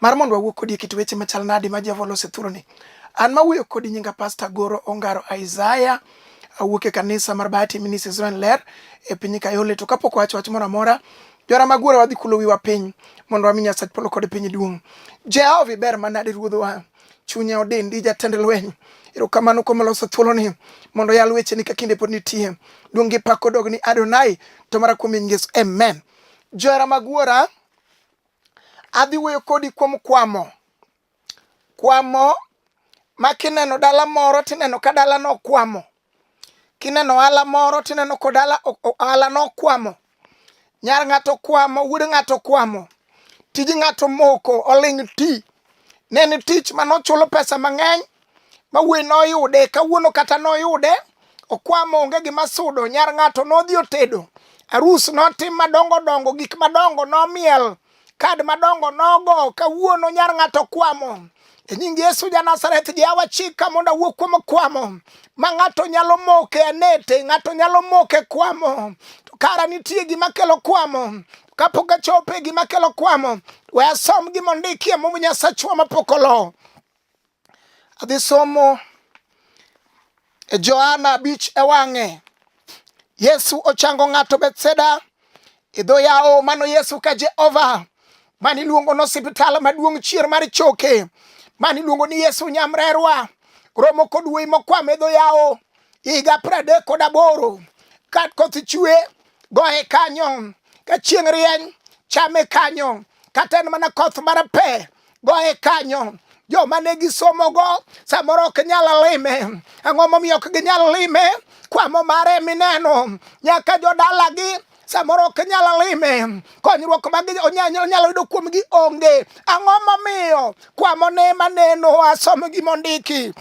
Mar mondo wawuo kodi e kit weche machal nadi ma Jehova oloso e thuroni. An ma wuoyo kodi nyinga Pasta Goro Ongaro Isaiah. Awuok e kanisa mar Bahati Ministries Zoen Ler e piny Kayole. To kapok wacho wach moro amora, jora mag wuora wadhi kulo wiwa piny mondo wami Nyasach polo kod piny duong'. Jehova iber manade ruodhwa. Chunya odendi jatend lweny. Erokamano kuom loso thuoloni mondo yal wecheni ka kinde pod nitie. Duong' gi pak odog ni Adonai to mara kuom Yesu. Amen. Johera mag wuora Adhi wuoyo kodi kuom kwamo. Kwamo ma kineno dala moro tineno ka dala no kwamo. Kineno ala moro tineno ko dala ala no kwamo. Nyar ng'ato kwamo, wuod ng'ato kwamo. Tij ng'ato moko oling' ti. Ne ni tich manochulo pesa mang'eny ma wuoyi noyude kawuono kata noyude okwamo onge gima sudo nyar ng'ato nodhi otedo arus notim madongo dongo gik madongo nomiel kad madongo nogo kawuono nyar ng'ato kwamo e nying yesu ja nazareth jawa chika mondo awuo kuom kwamo ma ng'ato nyalo moke anete ng'ato nyalo moke kwamo to kara nitie gima kelo kwamo kapok achope gima kelo kwamo we asom gima ondikie mum nyasachwa mapok olo Adhi somo e Johana abich e wang'e. Yesu ochango ng'ato Bethseda e dho yawo mano Yesu ka Jehova mani luongo no osiptal maduong' chier mar choke mani luongo ni Yesu Nyamrerwa romo kod wuoyi mokwame dho yawo higa pradek kod aboro ka koth chwe goye kanyo ka chieng' rieny chame kanyo kata en mana koth mar pe goye kanyo joma ne gisomogo samoro ok nyal lime ang'o momiyo ok ginyal lime kwamo mare mineno nyaka jodalagi samoro ok nyal lime konyruok mag onyalo yudo kuomgi onge ang'o momiyo kwamo ne maneno asom gimondiki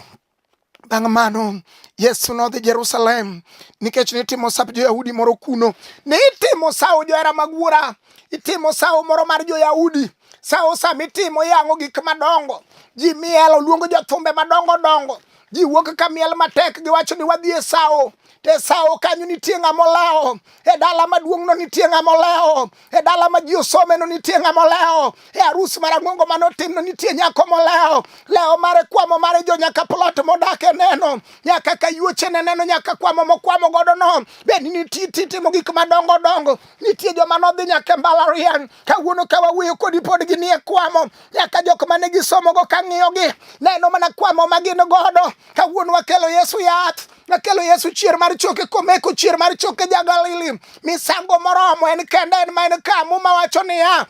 Bang' mano Yesu nodhi Jerusalem nikech nitimo sap jo-Yahudi moro kuno. Nitimo sawo johera mag wuora, itimo sawo moro mar jo-Yahudi. Sawo sama itimo iyang'o gik madongo, ji miel, oluongo jothumbe madongo dongo, ji wuok ka miel matek giwacho ni wadhi e sawo. e sawo kanyo nitie ng'ama olewo e dala maduong'no nitie ng'ama olewo e dala ma ji osomeno nitie ng'ama olewo e arus marang'ongo mane otimno nitie nyako molewo lewo mare kwamo mare jo nyaka plot modak e neno nyaka kayuochene neno nyaka kwamo mokwamo godo no bende nitie timo gik madongo dongo nitie joma nodhi nyaka e mbalariany kawuono ka wawuoyo kodi pod ginie kwamo nyaka jok mane gisomogo kang'iyogi neno mana kwamo ma gin godo kawuono wakelo yesu yath Nakelo Yesu chier mar choke komeko chier mar choke jagalili. Misango moromo en kende en ma en ka muma wacho niya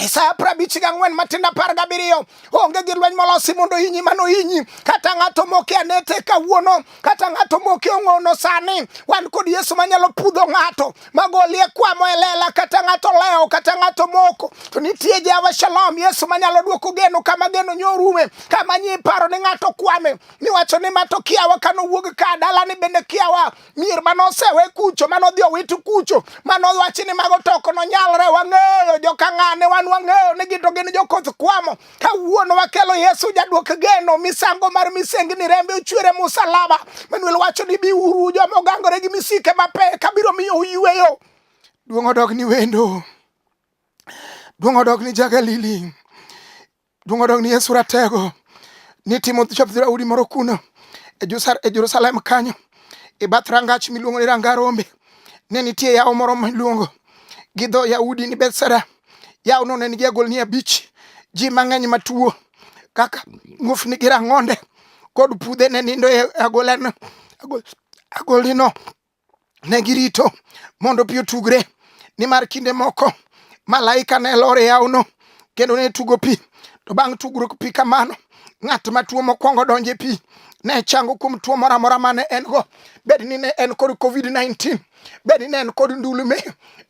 Isaya prabich ga ng'wen matin apar gabiriyo onge gi lweny molosi mondo inyi mano inyi kata ng'ato moke anete kawuono kata ng'ato moke ong'ono sani wan kod yesu manyalo pudho ng'ato magolie kwamo e lela kata ng'ato lewo kata ng'ato moko to nitie jehova shalom yesu manyalo dwoko geno kama geno nyorume kama nyi paro ni ng'ato kwame miwacho ni ma to kiawa ka nowuog ka dalani bende kiawa mier ma nosewe kucho ma nodhi owit kucho ma nowachi ni mago to ok nonyalre wang'eyo jokang'ane wan wang'eyo ni gito gin jokoth kwamo kawuono wakelo yesu jaduok geno misango mar misengni rembe ochwere musalaba manuel wacho ni biuru joma ogangore gi misike mapek kabiro miyo uyweyo duong' odog ni wendo duong' odog ni jagalili Donge odong' ni Yesu ratego ni timo chop dhoudi moro kuno e, e Jerusalem kanyo e bath rangach miluongo ni Ranga Rombe ne nitie yawo moro miluongo gi dho Yahudi ni Bethsaida. Yawono ne nigi agolni abich. Ji mang'eny matuo kaka muofni gi rang'onde kod pudhe ne nindo e agolano agolino. ne girito mondo pi otugre nimar kinde moko malaika ne lor e yawno kendo ne tugo pi to bang' tugruok pi kamano ng'at ma tuo mokwongo donjo e pi ne chango kuom tuo moro amora ma ne en go bed ni ne en kod covid-19 bed ni ne en kod ndulume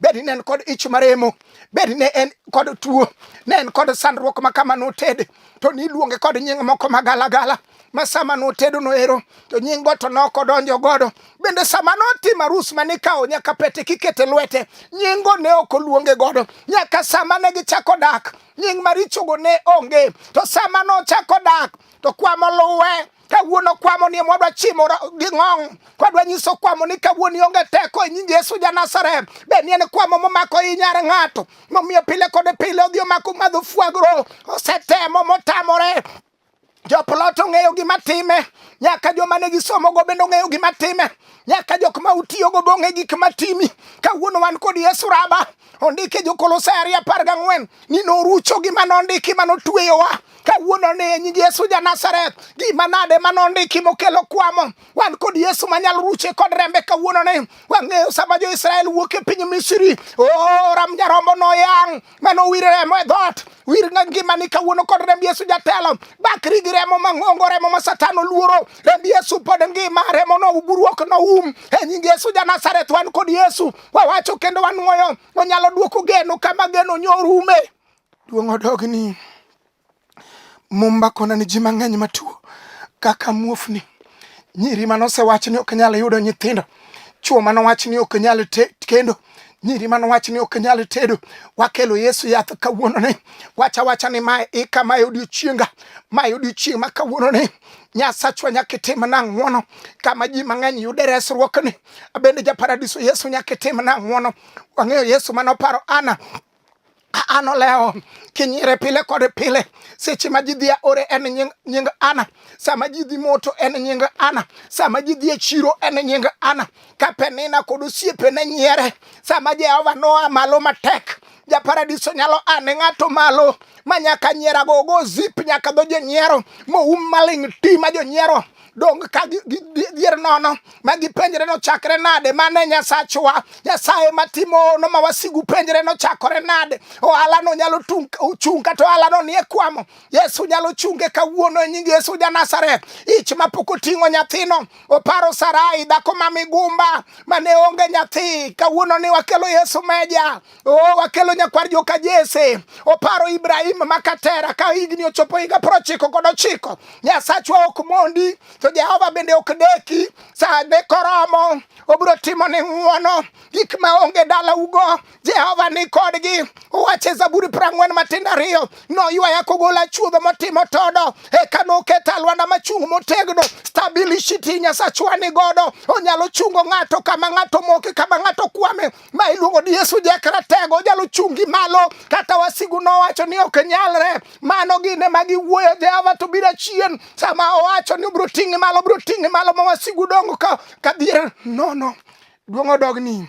bed ni ne en kod ich maremo bed ni ne en kod tuo ne en kod sandruok ma kama noted to niluonge kod nying moko magalagala ma sama notedo noero to nying go to noko donjo godo bende sama notimo arus ma nikawo nyaka pete kikete lwete nyingo ne ok oluonge godo nyaka sama ne gichako dak nying marichogo ne onge to sama nochako dak to kwamo luwe kawuono kwamo ni mwadwa chimo gi ng'ong kwadwa nyiso kwamo ni kawuono ionge teko e nying yesu ja nazareth be ni en kwamo momako i nyar ng'ato momiyo pile kod pile odhi omako madho fwagro osetemo motamore Joplot ong'eyo gima time, nyaka joma ne gisomogo bende ong'eyo gima time, nyaka jok ma utiyogo be ong'e gik ma timi. Kawuono wan kod Yesu Raba, ondike Jokolosai ariyo apar gang'wen ni norucho gima nondiki ma notueyowa kawuono ni e nying Yesu ja Nazareth gima nade ma nondiki mokelo kwamo wan kod Yesu manyalo ruche kod rembe kawuono ni wang'eyo sama jo Israel wuok e piny Misri o oh, ram jarombo noyang' mano wir remo e dhoot wir na ngimani kawuono kod remb yesu jatelo bakri gi remo mang'ongo remo ma satan oluoro remb yesu pod ngima remo no buruok no um e nying yesu ja nazareth wan kod yesu wawacho kendo wanwoyo onyalo duoko geno kama geno nyorume duong' odogni Mumba kona ni ji mang'eny matuo kaka muofni, nyiri mane osewach ni ok nyal yudo nyithindo, chwo mane owach ni ok nyal kendo nyiri mane owach ni ok nyal tedo. Wakelo Yesu yath kawuononi, wacha wacha ni mae ika, mae odiochienga, mae odiochieng' ma kawuononi Nyasachwa nyaka itimna ng'wono kama ji mang'eny yude resruokni. Abende ja paradiso Yesu nyaka itimna ng'wono. Wang'eyo Yesu mane oparo Ana an olewo kinyire pile kod pile seche ma ji dhi aore en nying, nying ana sama ji dhi moto en nying ana sama ji dhi e chiro en nying ana ka penina kod osiepene nyiere sama jehova noa malo matek japaradiso nyalo ane ng'ato malo ma nyaka nyierago ogo zip nyaka dho jonyiero moum maling' ti ma jonyiero dong ka gidhier nono ma gipenjre nochakre nade mane nyasachwa nyasaye matimono ma wasigu penjre nochakore nade ohalano nyalo chung' kata ohalano nie kwamo yesu nyalo chunge kawuono e nying yesu ja nazareth ich mapok oting'o nyathino oparo sarai dhako ma migumba mane onge nyathi kawuono ni wakelo yesu meja Oh, wakelo nyakwar joka Jese oparo Ibrahim makatera ka higni ochopo higa prochiko kod ochiko. Nyasachwa ok mondi to Jehova bende ok deki sa ne koromo obiro timo ni ng'uono gik ma onge dala ugo Jehova ni kodgi uwache Zaburi prang'wen matindo ariyo noywaya kogola chuodho motimo todo eka noketa lwanda machung' motegno stabilishiti Nyasachwa ni godo onyalo chungo ng'ato kama ng'ato moke kama ng'ato kwame ma iluongo ni Yesu Jakratego onyalo chungi malo kata wasigu nowacho ni ok nyalre mano gine ma giwuoyo Jehova to biro chien sama owacho ni obiro ting'i malo obiro ting'i malo ma wasigu dongo ka kadhier nono duong' odogni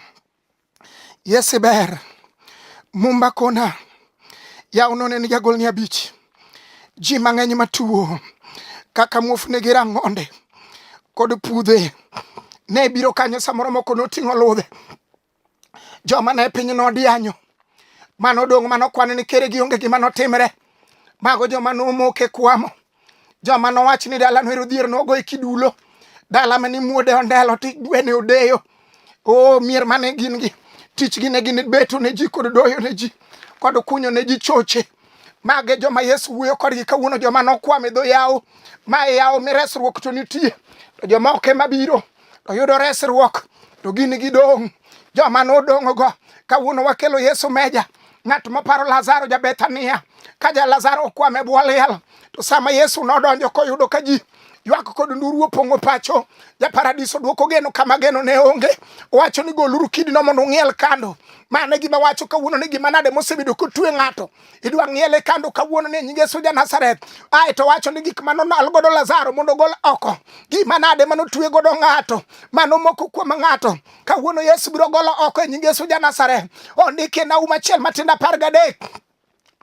Yesu ber mumba kona yaw none ni jagol ni abich ji mang'eny matuo kaka muofni gi rang'onde kod pudhe ne biro kanyo samoro moko noting'o ludhe joma ne piny nodianyo mano dong' mano kwan ni kere gi onge gima notimre mago joma nomoke kwamo joma nowach ni dala no ero dhier nogo e kidulo dala mani muode ondelo ti gwene odeyo o mier mane gin gi tichgi ne gin beto ne ji kod doyo ne ji kod kunyo ne ji choche mage joma yesu wuoyo kodgi kawuono joma nokwam e dho yawo ma e yawo mi resruok to nitie to joma ok ema biro to yudo resruok to gin gidong' joma nodong'go kawuono wakelo yesu meja ng'at moparo lazaro ja bethania ka ja lazaro okwam e bwo liel to sama yesu nodonjo koyudo ka ji ywak kod nduru opong'o pacho ja paradiso dwoko geno kama geno ne onge owacho ni goluru kidino mondo ung'iel kando mane gima wacho kawuono ni gima nade mosebedo kotue ng'ato idwa ng'iele kando kawuono ni nyinge suja Nazareth ae to wacho ni gik mano nal godo Lazaro mondo gol oko gima nade mano tue godo ng'ato mano moko kuom ng'ato kawuono Yesu biro golo oko e nyinge suja Nazareth ondike na uma chiel matinda par gadek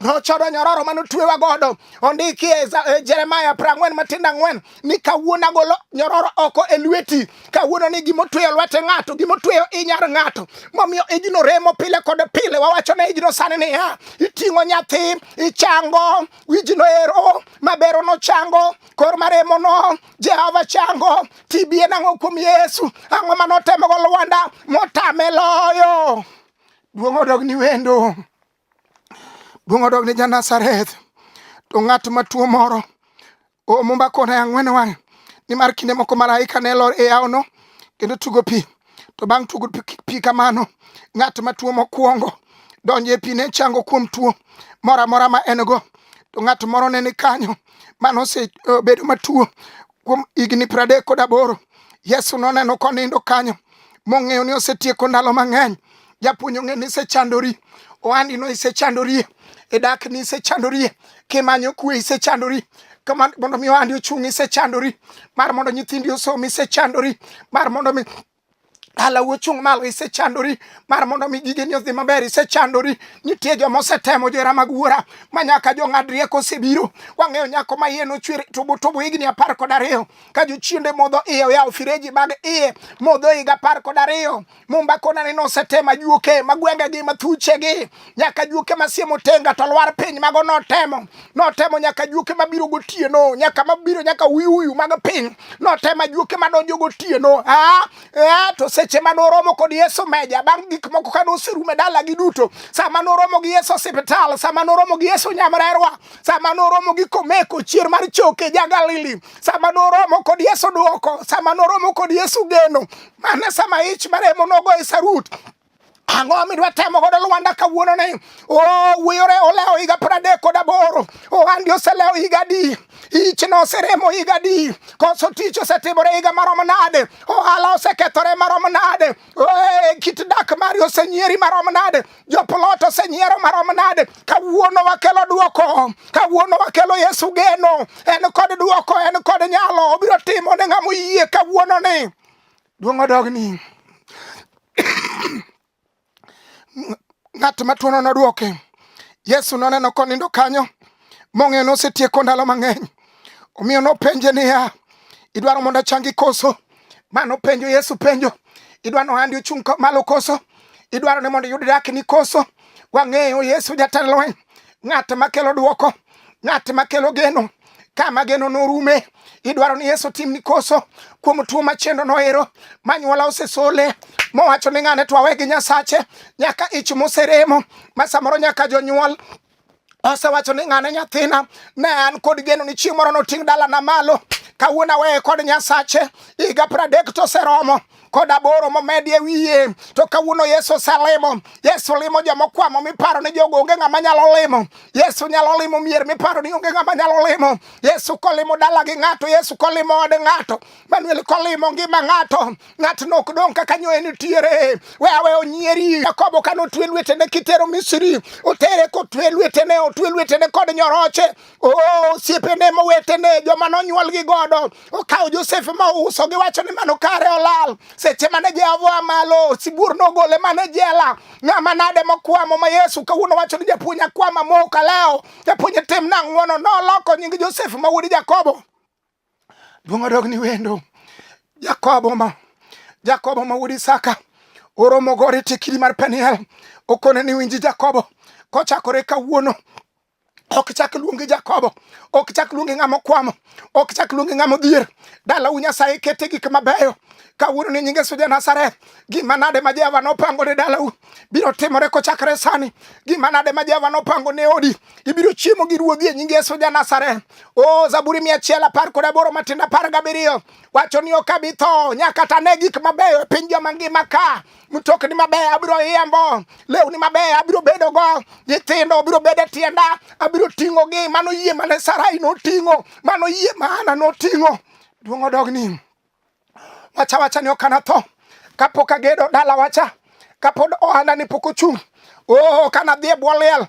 Ochodo nyororo mane otwewa godo ondiki e, e Jeremaya prang'wen matindo ang'wen ni kawuono agolo nyororo oko e lweti. Kawuono ni gima otweyo lwete ng'ato, gima otweyo inyar ng'ato. Momiyo ijno remo pile kod pile. Wawacho ne ijno sani niya, iting'o nyathi, ichango, wijno ero, mabero no chango, kor maremo no, Jehova chango, TB en ang'o kuom Yesu? Ang'o mane otemo go Lwanda motame loyo? Duong' odog ni wendo. Duong' odog ni Janazareth. To ng'at matuo moro omumba kona ang'wen wang' nimar kinde moko malaika ne lor e yawono kendo tugo pi to bang' tugo pi kamano ng'at matuo mokwongo donjo e pi ne chango kuom tuo moro amora ma en go to ng'at moro ne ni kanyo mano osebedo eh, matuo Kuom higni pradek kod aboro, Yesu noneno konindo kanyo, mong'eyo ni osetieko ndalo mang'eny. Japuonj ong'e ni isechandori, ohandi no isechandorie, e dak ni isechandorie, kimanyo kwe isechandori, kama mondo mi ohandi ochung' isechandori, mar mondo nyithindi osom isechandori, mar mondo mi Dala wuchung' malo isechandori mar mondo mi gigeni odhi maber isechandori nitie joma osetemo johera mag wuora ma nyaka jong'ad rieko osebiro wang'eyo nyako ma iye nochwer tubu tubu higni apar kod ariyo ka jochiende modho iye oyawo fireji mag iye modho higa apar kod ariyo mumba konani nosetema juoke ma gwengegi ma thuchegi nyaka juoke masie motenga to lwar piny mago notemo notemo nyaka juoke mabiro gotieno nyaka mabiro nyaka uyuyu mag piny notemo juoke madonjo gotieno ah, eh, to seche ma noromo kod yesu meja bang' gik moko ka noserume dalagi duto sama noromo gi yesu osiptal sama noromo gi yesu nyamrerwa sama noromo gi komeko chier mar choke ja galili sama noromo kod yesu dwoko sama noromo kod yesu geno mane sama ich maremo nogo e sarut Ang'o midwa temo godo Lwanda kawuono ni? Oh, wiyore olewo higa pradek kod aboro. Ohandi oselewo higa adi? Ichno oseremo higa adi? Koso tich osetimore higa marom nade? Ohala osekethore marom nade? Eh, kit dak mari osenyieri marom nade? Joplot osenyiero marom nade? Kawuono wakelo duoko. Kawuono wakelo Yesu geno. En kod duoko, en kod nyalo. Obiro timo ne ng'ama oyie kawuono ni. Duong' odogni. Ng'at matuono nodwoke. Yesu noneno konindo kanyo mong'eyo nosetieko ndalo mang'eny. Omiyo nopenje niya, idwaro mondo achangi koso? Ma nopenjo Yesu penjo, idwaro ni ohandi ochung' malo koso? Idwaro ni mondo iyud dakni koso? Wang'eyo Yesu jatend lweny. ng'at makelo dwoko, ng'at makelo geno kama geno norume idwaro ni yesu tim ni koso kuom tuo machendo noero manyuola osesole mowacho ni ng'ane twawe gi nyasache nyaka ich moseremo ma samoro nyaka jonyuol osewacho ni ng'ane nyathina ne an kod geno ni chieng' moro noting' dalana malo kawuono aweye kod nyasache higa pradek to oseromo kod aboro momedi e wiye. To kawuono Yesu oselimo, Yesu limo joma okwamo miparo ni jogo onge ng'ama nyalo limo. Yesu nyalo limo mier miparo ni onge ng'ama nyalo limo. Yesu kolimo dala gi ng'ato, Yesu kolimo od ng'ato, Manuel kolimo ngima ng'ato, ng'atno ok dong' kaka nyoye nitiere. We awe onyieri. Jakobo kane otwe lwetene kitero Misri, otere kotwe lwetene, otwe lwetene kod nyoroche, Oh, siepene mowetene joma nonyuol gi godo okawo Josef ma ouso giwacho ni mano kare olal seche mane Jehova malo sibuor nogole mane jela ng'ama nade mokwamo ma Yesu kawuono wacho ni japuonj akwama moka leo japuonj tim nang'wono noloko nying Josef ma wuod Jakobo Duong' odog ni wendo. Jakobo ma Jakobo ma wuod Isaka oromo gore tekiri mar Peniel okone ni winji Jakobo kochakore kawuono ok chak luongi Jakobo, ok chak luongi ng'ama okwamo, ok chak luongi ng'ama odhier. Dalau Nyasaye kete gik mabeyo kawuono ni nyinge suja Nazareth. Gima nade ma Jehova nopango ne dalau biro timore kochakre sani? Gima nade ma Jehova nopango ne odi ibiro chiemo gi ruodhi e nying Yesu ja Nazareth. O Zaburi mia achiel apar kod aboro matindo apar gabiriyo wacho ni ok abi tho nyaka ta ne gik mabeyo e piny joma ngima ka mtokni mabeyo abiro yembo, lewni mabeyo abiro bedo go, nyithindo abiro bedo e tienda, abiro ting'o gi mano yie mane Sarai noting'o, mano yie ma Hana noting'o. Duong' odogni. wacha wacha ni okana tho kapok agedo dala wacha kapod ohanda ni pok ochung' oh, kana dhi e bwo liel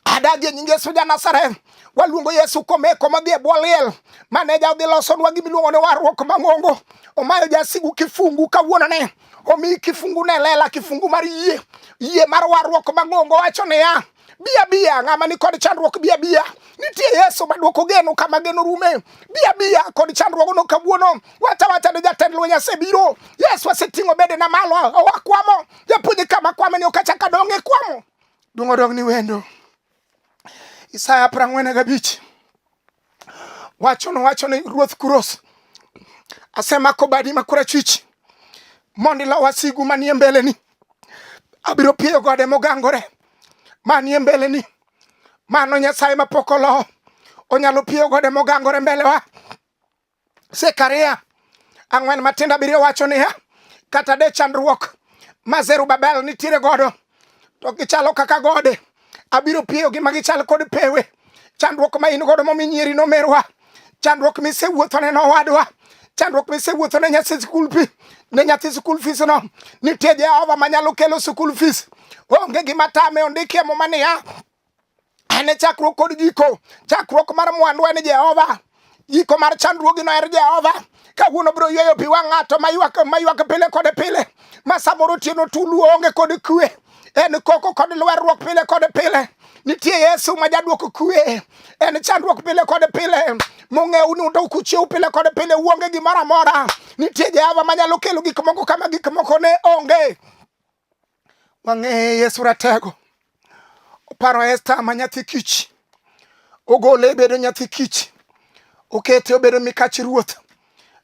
adagi e nying Yesu ja Nazareth waluongo Yesu komeko madhi e bwo liel maneja odhi losonwa gimiluongo ni warruok mang'ongo omayo jasigu kifungu kawuonone omi kifungu ne lela kifungu mar yie yie mar warruok mang'ongo wacho niya Bia bia ng'ama ni kod chandruok bia bia nitie Yesu maduoko geno kama geno rume bia bia kod chandruok no kawuono wacha wacha ni jatend lweny asebiro Yesu aseting'o bede na malo owakwamo japuonj kama kwame ni okachaka donge kwamo dung'o dong ni wendo Isaya prang'wen gabich wacho nowacho ni ruoth Kuros, asemako badi ma korachwich mondo ilo wasigu manie mbeleni. Abiro pieyo gode mogangore manie mbeleni. Mano Nyasaye mapok olo onyalo pieyo gode mogangore mbelewa. Zekaria ang'wen matindo abiriyo wacho niya, kata de chandruok ma Zerubabel nitiere godo to gichalo kaka gode, abiro piyogi ma gichal kod pewe. Chandruok ma in godo momi nyieri nomerwa, chandruok misewuothone nowadwa, chandruok misewuothone nyathi skul pi ne nyathi skul fees no, nitie Jehova manyalo kelo skul fees. Onge gima tame, ondiki e muma niya En e chakruok kod giko. Chakruok mar mwandu en Jehova. Giko mar chandruogi no er Jehova. Kawuono biro yweyo pi wang' ng'ato maywak pile kod pile ma samoro otieno tulu onge kod kwe en koko kod lwerruok pile kod pile nitie yesu ma jaduoko kwe en chandruok pile kod pile mong'ew ni undo kuchiew pile kod pile uonge gimoro amora nitie jehova manyalo kelo gik moko kama gik moko ne onge Wang'eye Yesu Ratego oparo Esta ma nyathi kich, ogole e bedo nyathi kich, okete obedo mikach ruoth.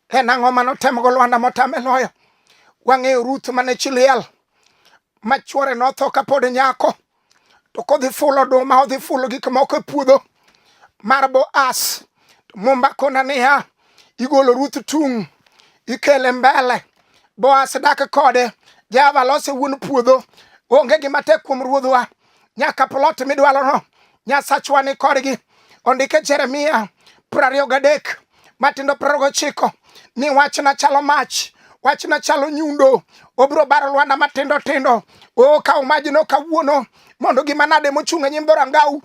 En ang'o mane otemgo Lwanda motame loyo? Wang'eyo Ruth mane chi liel ma chwore notho kapod nyako. to kodhi fulo oduma odhi fulo gik moko e puodho mar Boaz to Mumba kona niya igolo Ruth tung' ikele mbele Boaz dak kode Java lose wuon puodho onge gima tek kuom ruodhwa nyaka plot midwalono nyasachwa ni kodgi ondike Jeremia prariyo gadek matindo piero gochiko ni wachna chalo mach wachna chalo nyundo obiro baro lwanda matindo tindo o kaw majno kawuono mondo gima nade mochung' e nyim dhorangau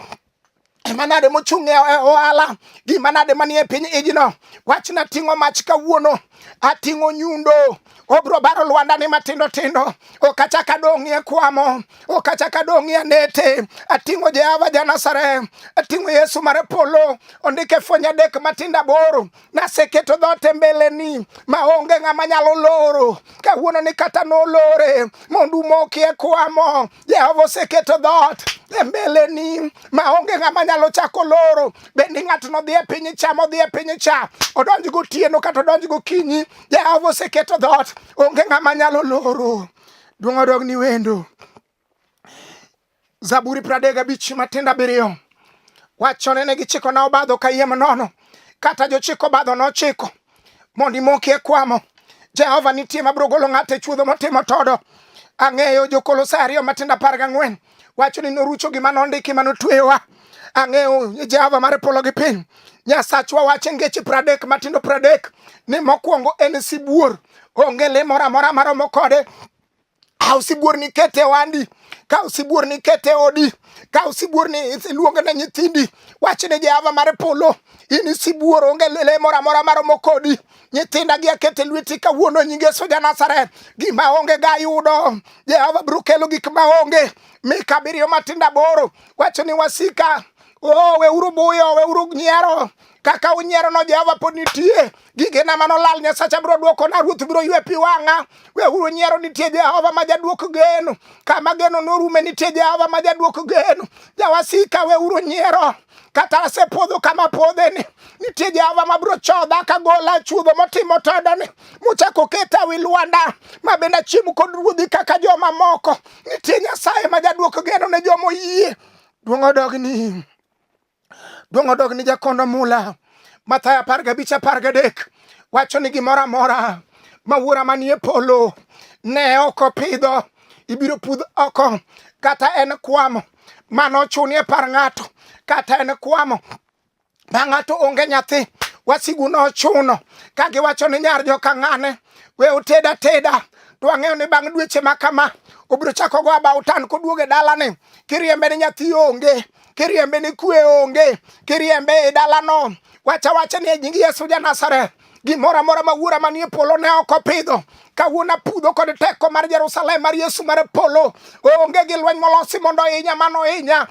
gima nade mochung' e, e ohala gima nade manie piny ijno wachna ting'o mach kawuono ating'o nyundo obro baro lwandani matindo tindo okachaka dong'ie kwamo okachaka dong'ie nete ating'o jehova janasare ating'o yesu mare polo ondike fwenye adek matindo aboro naseketo dhote mbeleni maonge ng'ama nyalo loro kawuono ni kata nolore mondo umokie kwamo Jehova oseketo dhoot e mbeleni maonge ng'ama nyalo chako loro. Bende ng'atno dhi e piny cha modhi e piny cha, odonj gotieno kata odonj gokinyi, Jehova oseketo dhoot, onge ng'ama nyalo loro. Duong' odog ni wendo. Zaburi pradek gabich matindo abiriyo wachone ne gichikona obadho kayiem nono, kata jochiko obadho nochiko mondo imoki e kwamo jehova nitie mabiro golo ng'ato e chuodho motimo todo ang'eyo jokolosai ariyo matindo apar gang'wen wacho ni norucho gima nondiki ma notweyowa ang'eyo jehova mar polo gi piny nyasachwa wacho ngeche pradek matindo pradek ni mokwongo en sibuor onge le moro amora maromo kode Kaw sibuor ni ket e wandi, kaw sibuor ni ket e odi, kaw sibuor ni luong ne nyithindi. Wach ne Jehova mar polo, in sibuor onge le moro amora maromo kodi. Nyithinda gi aketo e lweti kawuono e nyinge soja Nazareth. Gima onge ga yudo, Jehova biro kelo gik ma onge. Mika abiriyo matindo aboro wacho ni wasika, oh, weuru buyo, weuru nyiero kaka unyierono Jehova pod nitie. Gigena mano lal Nyasacha biro dwokona, Ruoth biro ywe pi wang'a. Weuru nyiero nitie Jehova ma jadwok geno, kama geno norume nitie Jehova ma jadwok geno. Jawasika weuru nyiero, kata asepodho kama podheni, nitie Jehova ma biro chodha kagola chuodho motimo todoni, mochako keta wi lwanda, ma bende achiem kod ruodhi kaka joma moko. Nitie Nyasaye ma jadwok geno ne joma oyie. Duong' odogni. Duong' odog ni jakondo mula. Mathayo apar gabich apar gadek wacho ni gimoro amora ma wuora manie polo ne ok opidho ibiro pudh oko kata en kwamo mano ochunie par ng'ato kata en kwamo ma ng'ato onge nyathi wasigu nochuno ka giwacho ni nyar joka ng'ane we oteda teda to ang'eyo ni bang' dweche ma kama obiro chako go abautan koduoge dalani kiriembe ni nyathi onge kiriembe ni kwe onge, kiriembe e dalano, wacha wacha ni e nying Yesu ja Nazareth gimoro amora ma wuora manie polo ne ok opidho kawuono apudho kod teko mar Jerusalem mar Yesu mar polo onge gi lweny molosi mondo ohinya mano ohinya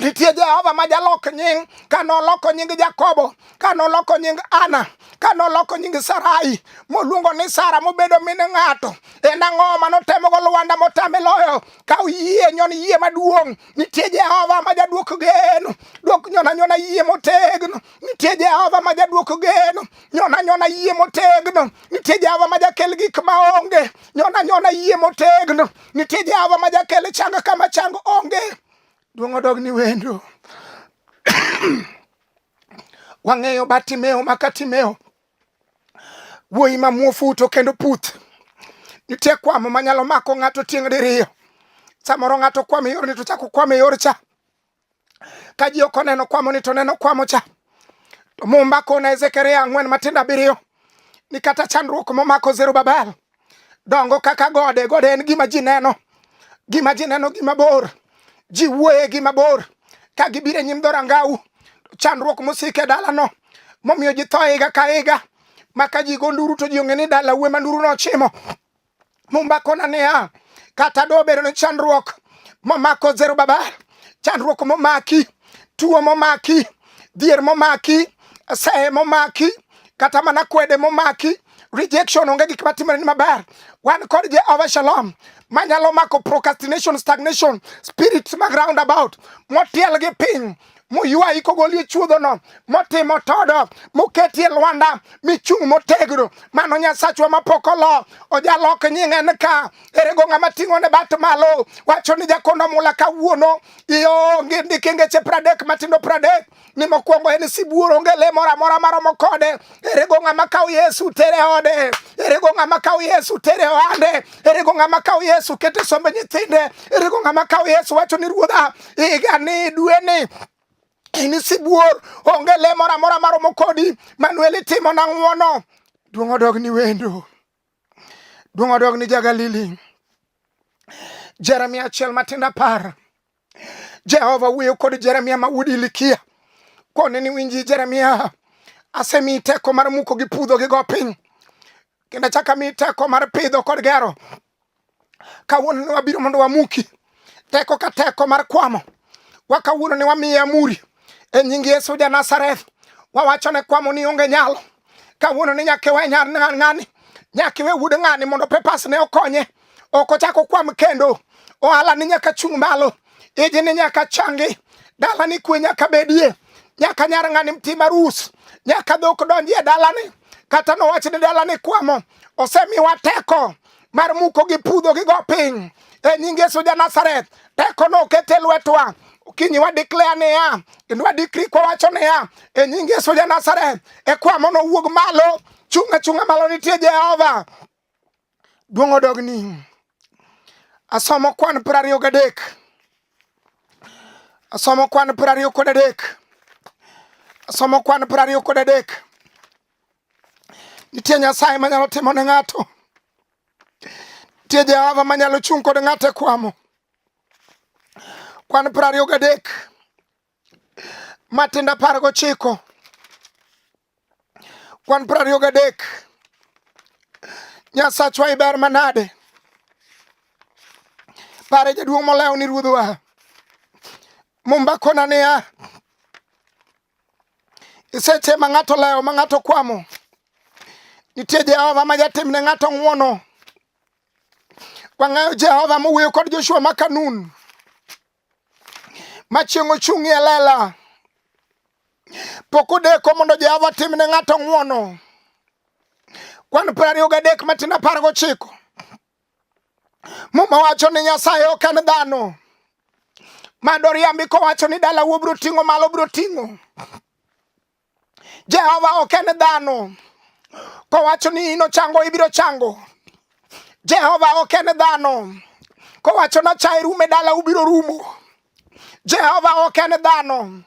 nitie jehova ma jalok nying ka noloko nying jakobo ka noloko nying ana ka noloko nying sarai moluongo ni sara mobedo min ng'ato en ang'o ma notemogo lwanda motame loyo ka oyie nyon yie maduong' Nitie Jehova ma jadwoko geno, dwok nyona nyona yie motegno. Nitie Jehova ma jadwoko geno, nyona nyona yie motegno. Nitie Jehova ma jakel gik ma onge, nyona nyona yie motegno. Nitie Jehova ma jakel changa kama chang onge. Duong' odog ni wendo. Wang'eyo Bartimeo ma Katimeo Wuoyi ma muofu to kendo puth. Nitie kwamo manyalo mako ng'ato tieng' diriyo. Samoro ng'ato kwamo e yorni to chako kwamo e yor cha. Ka ji ok oneno kwamo ni to neno kwamo cha. To Mumba kona Ezekiel ang'wen matindo abiriyo ni kata chandruok momako Zerubabel dongo kaka gode. Gode en gima ji neno, gima ji neno gima bor, ji wuoye gima bor ka gibiro e nyim dhorangau. Chandruok mosiko e dalano momiyo ji tho higa ka higa, ma ka ji go nduru to ji ong'e ni dala uwe ma nduru nochimo. Mumba kona niya, kata dobedo ni chandruok momako Zerubabel, chandruok momaki, tuo momaki, dhier momaki, sehe momaki, kata mana kwede momaki rejection onge gik matimore ni maber wan kod jehova shalom manyalo mako procrastination stagnation spirits mag roundabout motiel gi piny moywayi kogolie chuodhono motimo todo moketie lwanda michung' motegno mano nyasachwa mapok olo ojalok nying'e ni ka erego ng'ama ting'o ne bat malo wacho ni jakono mula kawuono ionge ndike ngeche pradek matindo pradek ni mokwongo en sibuor onge le moro amora maromo kode erego ng'ama kawo yesu tere ode erego ng'ama kawo yesu tere ohande erego ng'ama kawo yesu kete sombe nyithinde erego ng'ama kawo yesu wacho ni ruodha igani dweni in sibuor onge le moro amora maromo kodi manuel itimo na ng'wono duong' odog ni wendo duong' odog ni jagalili jeremia achiel matindo apar Jehova wuoyo kod Jeremia ma wuod Ilikia kone ni winji Jeremia, asemi teko mar muko gi pudho gi go piny kendo achaka mi teko mar pidho kod gero. Kawuono ni wabiro mondo wamuki teko ka teko mar kwamo wa kawuono ni wamiye amuri e nying Yesu ja Nazareth, wawacho ne kwamo ni onge nyalo kawuono ni nyaka iwe nyar ng'ani, nyaka iwe wuod ng'ani mondo papers ne okonye, ok ochak okwam kendo. Ohala ni nyaka chung' malo, iji ni nyaka changi, dala ni kwe nyaka bedie, nyaka nyar ng'ani tim arus, nyaka dhok donjie dalani, kata nowach ni dalani kwamo, osemiwa teko mar muko gi pudho gi go piny e nying Yesu ja Nazareth teko no okete lwetwa kinyi wa declare niya kendo wa decree kwa wacho niya e nying Yesu ja Nazareth e kwa mono wuog malo chunga chunga malo nitie Jehova duong odogni asomo kwan piero ariyo gadek asomo kwan piero ariyo kod adek asomo kwan piero ariyo kod adek Nitie Nyasaye manyalo timo ne ng'ato. Nitie Jehova manyalo chung' kod ng'ato e kwamo. Kwan piero ariyo gadek matindo apar gochiko kwan piero ariyo gadek Nyasachwa iber manade pare jaduong' molewo ni ruodhwa mumba kona niya Iseche ma ng'ato lewo ma ng'ato kwamo, nitie Jehova ma jatim ne ng'ato ng'wono. Wang'eyo Jehova mowuoyo kod Joshua ma Kanun ma chieng' ochung'ie lela. Pok odeko mondo Jehova tim ne ng'ato ng'wono. Kwan piero ariyo gadek matin apar gochiko Muma wacho ni Nyasaye ok en dhano madoriambi kowacho ni dala wuo biro ting'o malo biro ting'o. Jehova ok en dhano kowacho ni ino chango ibiro chango. Jehova ok en dhano kowacho na chae rume dala ubiro rumo. Jehova ok en dhano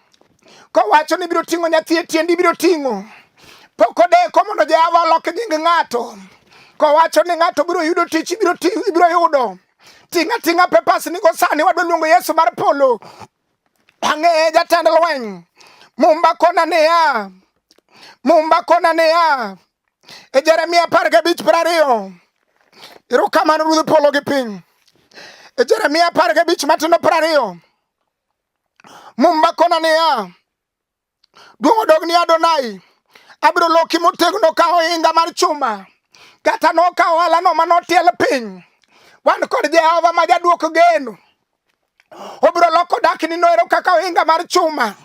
kowacho ni ibiro ting'o nyathi e tiendi ibiro ting'o pok odeko mondo Jehova olok nying ng'ato kowacho ni ng'ato biro yudo tich ibiro yudo ting'a ting'a pepas nigo sani wadwa luongo Yesu mar polo ang'eye jatend lweny mumba kona niya mumba kona niya e Jeremia apar gabich piero ariyo erokamano ruodh polo gi piny e Jeremia apar gabich matindo piero ariyo mumba kona niya duong' odog ni Adonai abiro loki motegno ka ohinga mar chuma kata nokawo alano ma notiel piny wan kod Jehova ma jadwoko geno Obiro loko dakni noero kaka ohinga mar chuma.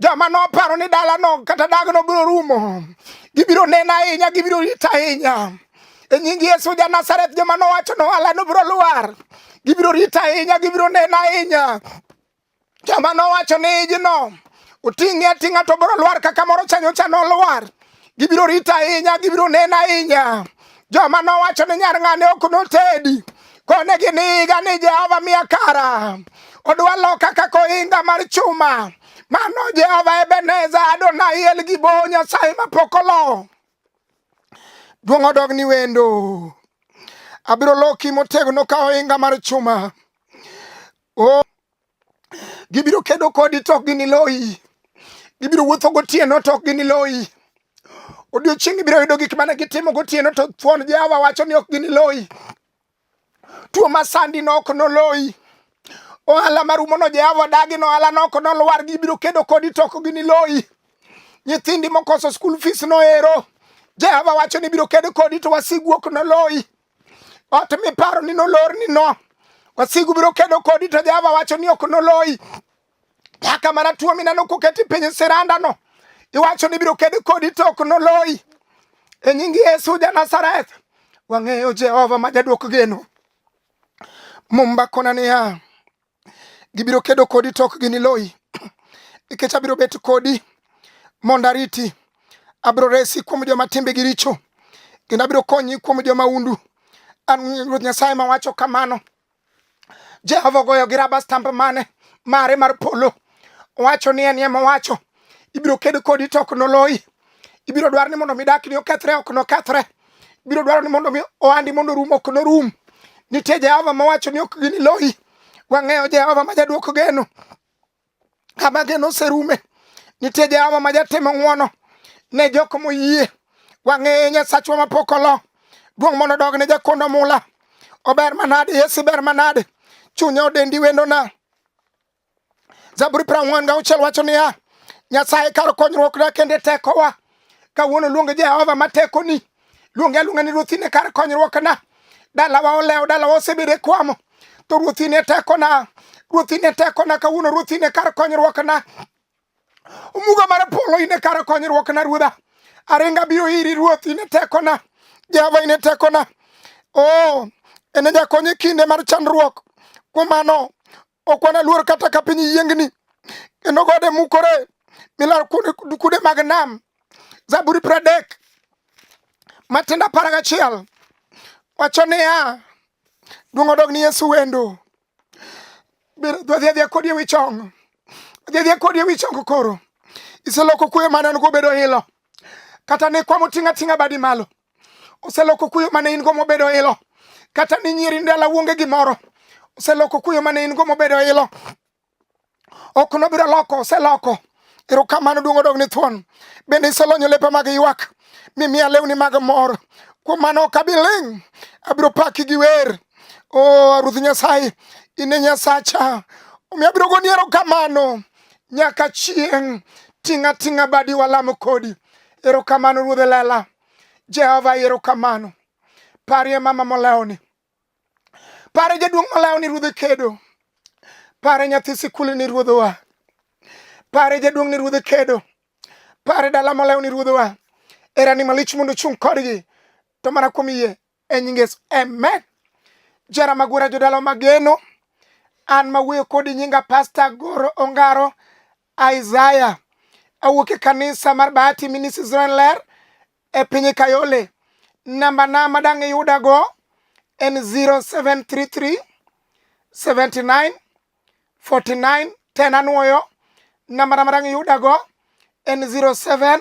Joma noparo ni dalano kata dagno biro rumo, gibiro nena ahinya, gibiro rita ahinya. E nying Yesu ja Nazareth, joma nowacho ni ohalano biro lwar, gibiro rita ahinya, gibiro nena ahinya. Joma nowacho ni ijno oting'e ating'a to biro lwar kaka moro chanyocha nolwar. gibiro rito ahinya, gibiro neno ahinya. Joma nowacho ni nyar ng'ane ok notedi, kone giniga ni Jehova miya kara, odwa loka kaka ohinga mar chuma. Mano Jehova Ebeneza, Adonai El Gibo, Nyasaye mapok olo. Duong' odog ni wendo. Abiro loki motegno ka ohinga mar chuma. Oh. Gibiro kedo kodi to ok giniloyi. Gibiro wuotho gotieno to ok giniloyi. Odiochieng' ibiro yudo gik mane gitimo gotieno to thuon Jehova wacho ni ok giniloyi. Tuo masandi no ok noloyi. Ohala marumono Jehova dagi no ohala no ok nolwar. Gibiro kedo kodi to ok giniloyi. Nyithindi mokoso skul fees no ero. Jehova wacho ni biro kedo kodi to wasigu ok noloyi. Ot miparo ni nolor ni no. Wasigu biro kedo kodi to Jehova wacho ni ok noloyi. Nyaka mana tuo mineno koketi piny siranda no. Iwacho ni biro kedo kodi to ok noloyi. E nying Yesu ja Nazareth. Wang'eyo Jehova ma jadwok geno. Mumba kona niya. Gibiro kedo kodi to ok giniloyi, nikech abiro bet kodi mondo ariti. Abiro resi kuom joma timbegi richo, kendo abiro konyi kuom joma undu. An Ruoth Nyasaye mawacho kamano. Jehova ogoyo gi raba stamp mane mare mar polo, owacho ni en ema owacho. Ibiro ked kodi to ok noloyi, ibiro dwar ni mondo midakni okethre, ok nokethre. biro dwaro ni mondo mi ohandi mondo rum ok norum. Nitie Jehova mawacho ni ok giniloyi. Wang'eyo Jehova ma jaduoko geno kama geno oserume. Nitie Jehova ma jatimo ng'wono ne jok moyie. Wang'eye Nyasachwa mapok olo. Duong' mondo dog ne jakondo mula. Ober manade, Yesu ber manade. Chunya odendi wendona. Zaburi piero ang'wen gauchiel wacho niya, Nyasaye kar konyruokna kende tekowa. Kawuono luonge Jehova ma tekoni, luonge aluonga ni ruothine kar konyruokna. Dalawa olewo, dalawa osebedo e kwamo, to ruothine tekona, ruothine tekona, kawuono ruothine kar konyruokna. Omuga mar polo ine kar konyruokna ruodha. Aringa biro iri ruoth ine tekona. Jehova ine tekona. Oh, ene jakonye kinde mar chandruok. Kuom mano, Ok wanaluor kata ka piny yiengni, kendo gode mukore milar kude mag nam. Zaburi pradek matindo apar gachiel wacho niya, duong' odog ni Yesu wendo. Dwadhi adhiya kodi ewi chong, dhi adhiya kodi ewi chong koro. Iseloko kuyo mane an go bedo ilo, kata ne kwamo ting'a ting'a badi malo. oseloko kuyo mane in go mobedo ilo kata ni nyiri ndala wuonge gimoro oseloko kuyo mane in go mobedo ilo ok nobiro loko oseloko erokamano duong' odog ni thuon bende iselonyo lepa mag ywak mimiya lewni mag mor kuom mano ok abi ling' abiro paki gi wer o oh, ruoth nyasaye in e nyasacha omiyo abiro goni erokamano nyaka chieng' ting'a ting'a badi walamo kodi Erokamano Ruodhe Lela. Jehova erokamano. Parie mama molewni. Pare jaduong' molewni Ruodhe kedo. Pare nyathi sikul ni Ruodhewa. Pare jaduong' ni Ruodhe kedo. Pare dala molewni Ruodhewa. Erani malich mondo chung' kodgi. To mana kuom yie e nying Yesu amen jara magwara jodala mageno an mawuoyo kodi nyinga pasta goro ongaro isaya awuok e kanisa mar bahati ministry zren ler e piny kayole namba na madang' iyudago en 0733 79 49 10 anwoyo namba na madang' iyudago en 07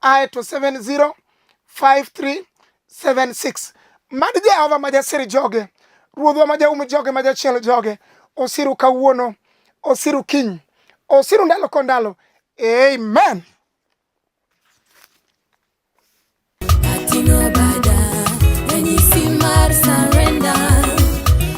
aye to 705376 mad jehova ma jasir joge ruodhwa ma jaum joge ma jachiel joge osiru kawuono osiru kiny osiru ndalo ko ndalo amen